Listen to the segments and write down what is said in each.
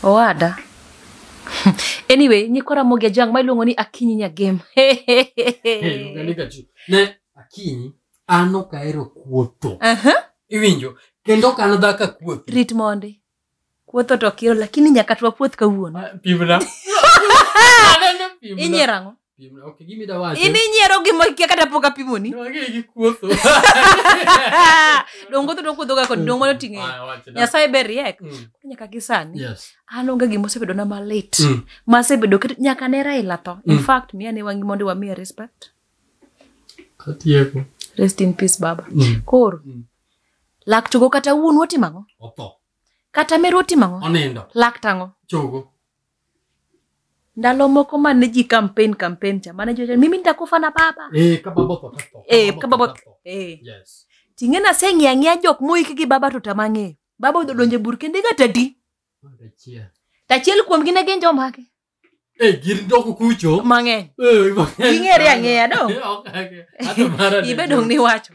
Owada. anyway, nyikwa Ramogi Ajang' ma iluongo ni Akinyi Nyagem. ne akinyi an ok ahero kuotho Aha, iwinjo kendo ok an dhaka kuothi Rit mondi. Kuotho to kiro lakini nyaka twa puoth kawuono. pimna Aneno pimna. Inyiero ang'o? Piem na- ok gimi da wacho in inyiero gima kia kata pok apimoni No, ang'e gi kuotho dongo to dokuodhoga kod dongo mano ting'e Ah, wacho da. nyasaye ber riek Mm, nyaka gi sani yes. an onge gima osebedona malit Mm. masebedo ket- nyaka ne raila tho in Mm. fact miya ne wangi mondo wamiye respect Atieko. rest in peace baba Mm. koro Mm. lak chogo kata wuon wotimo ang'o Otho. kata meru otimo ang'o Onindo. lak tang'o Chogo. ndalo moko mane ji campaign campaign cha mane jocha mimi nitakufa na baba Eh, ka baba otho to tho. eh ka baba otho. eh Yes. ting'eni aseng'iyo ang'iya jok moiki gi baba to tama ng'eyo baba odhi donjo e bur kendo iga tadi Mondo achia. to achiel kuomgi ne gin jomage Eh, gin doko kucho. mang'eny Eh, mang'eny. Ging'ere ang'eya, no? Eh, ok, ok. Hata mara ni- ibe dong' niwacho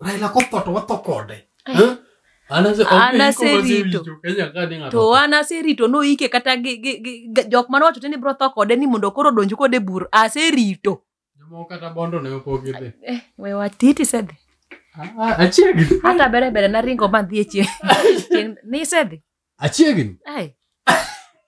Raila kotho to watho kode. Eh. Eh? An ase- An ok iko aserito. wasewinjo, Kenya ka ni ng'ato to otho. an aserito noike kata gi- gi- gi- gi- jok mane wacho te ni bro tho kode ni mondo koro odonj kode bur aserito Jomoko kata bondo ne ok ogidhi. eh, we watiti sedhi Ah, ah, Achiegni. hata bere bere naringo madhi e chieng' chieng' nisedhi Achiegni. ai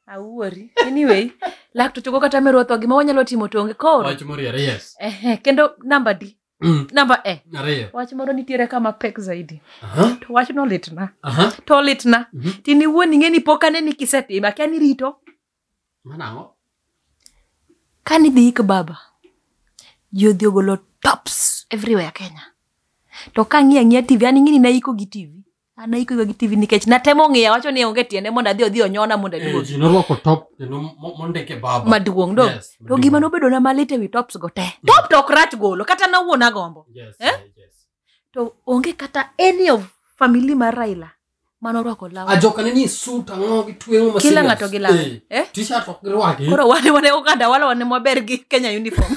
awuori anyway laktochogo kata meruotho gima wanyalo timo tonge koro Wach moriere, yes. Ehe, kendo namba di Mm. namba e Ariyo. wach moro nitiere kama pek zaidi Aha. to wach no litna Aha. to litna Mhm. tini wuon ing'e ni pok ane ni kisetime akia ni rito Mano ang'o? ka nidhi ik baba ji odhi ogolo tops everywhere kenya to ka ng'iya ng'iya tv an ing'e ni naiko gi tv an aikoga gi tv nikech natemo ng'iya wacho ni onge tiende mondo adhi odhi onyona mondo Eh, aduog ji norwako top kendo mo- mondike baba maduong' do Yes, to maduong'. gima nobedona malit ewi tops go te top to ok rach golo kata nawuon agombo Yes, Eh? eh, yes. to onge kata any of family mar raila mane orwako law ajokane ni sut ang'o gi tweng'o ma kila serious. ng'ato gi lawe Eh, eh? t-shirt ok girwaki koro wane wane oganda wala wane maber gi kenya uniform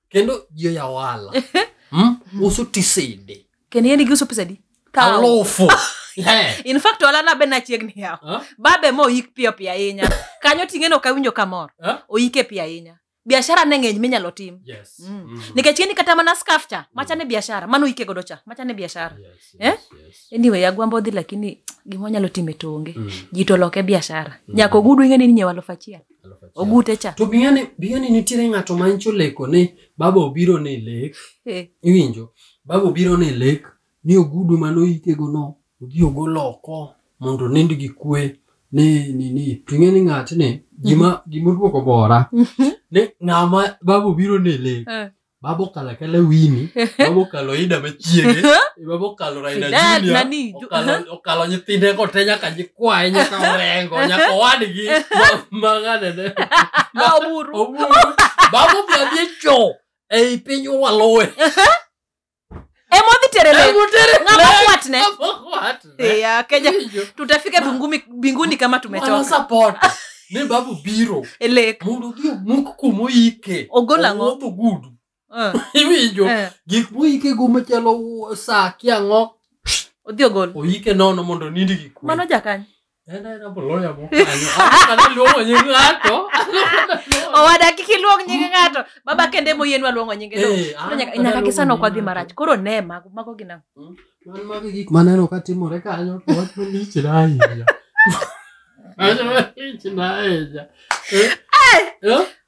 kendo ji oya ohala mm? uso tisede kendo yeni giuso pesadi Kaw. alufu Eh, in fact olana be nachiegni yawo ah, babe ma oyik piyo piyo ahinya kanyo ting'eno ok awinjo kamor ah, oyike piyo ahinya biashara ne ng'eny minyalo tim yes. Mm. Mm. nikech ng'eni kata mana skaf cha macha ne biashara mano oyike godo cha macha ne biashara Yes, Eh? yes, yes. anyway agwambo dhi lakini gima wanyalo timo e tonge Mm. ji to loke biashara nyaka ogudu ing'eni ni nyewa alufu achiel Alufu achiel. ogute cha to bing'ane bing'ane nitiere ng'ato ma nyicho leko ni baba obiro ni lek Eh, iwinjo baba obiro ni lek ni ogudu mane oyikego no odhi ogol oko mondo onind gi kwe ni ni ni to ing'e ni ng'atni gima gima odwoko bora ni ng'ama baba obiro ni lek eh, baba okalo akala wini baba okalo ida machiege baba okalo raina Fidel, junior nani, ju- okalo- okalo nyithinde go te nyaka nyikwaye nyaka orengo nyaka owadgi ma- maganene Ah, oburu. oburu baba obladhi e cho ei piny waluwe emodhi tere le ng'ama kwatne ya kenya tutafika bingumi, binguni kama tumechoka wanasapot ni babu biro elek mondo odhi omuk kumoyike Ogol ang'o? Owuoth ogudu Eh, iwinjo eh, gik moyike go machalo sa kiang'o odhi ogol oyike nono mondo nindi gi kwe mano jakany En aena boloya mokanyo. Akana luongo nying ng'ato. owada kik iluong nying ng'ato baba kende moyienwa luongo nyinge no Eh, an Koro nyaka- akana nyaka luongo kisano nying kwadhi ng'ato. marach koro ne mago mago gin ang'o? Man mago gik maneno ka timore kanyo to wach malich na ahinya. Wach malich na ahinya. Eh? Eh?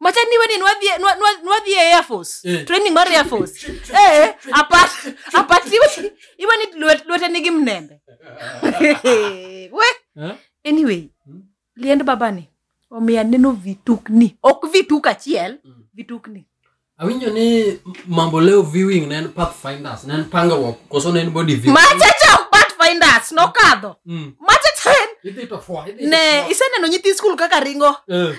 macha niwe ni nwadhie nwa- nwa- nwadhie air force Eh. training mar air force eh apat apat iwe iwe ni lwet- lwete nigi mnembe we Eh? anyway Mm. liend babani omiya neno vitukni ok vituk achiel Mm. vitukni awinjo ni mambo leo viewing ne en pathfinders ne en pangruok koso ne en body video machacha ok bat finders nokadho Mm. machacha en idhi to fwa idhi to ne fwa. iseneno nyithi skul kaka ringo Eh,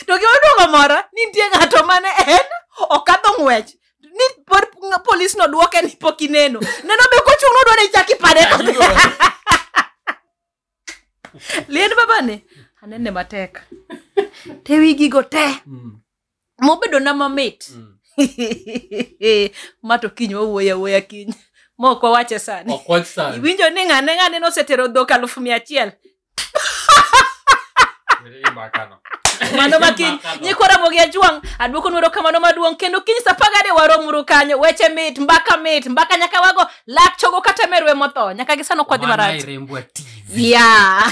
to gima duogo mora ni nitie ng'ato mane en okadho ng'wech ni pod ng- polis nodwoke ni pok ineno neno be kochung' nodwa ni chak ipade to dhi. liend babani anene matek te wigigo te Mm. mobedo na mamit Mm. ma to kiny wawuoyo awuoya kiny mok wawache sani Ok wach sani. iwinjo ni ng'ane ng'ane nosetero dhok alufu mia achiel Imakano. mano ma kiny nyikwa ramogi ajwang' adwoko nwero kamano maduong' kendo kiny sa pagade waromuru kanyo weche mit mbaka mit mbaka nyaka wago lak chogo kata merwe motho nyaka gisano kwadhi Wana marach irembwa TV. yeah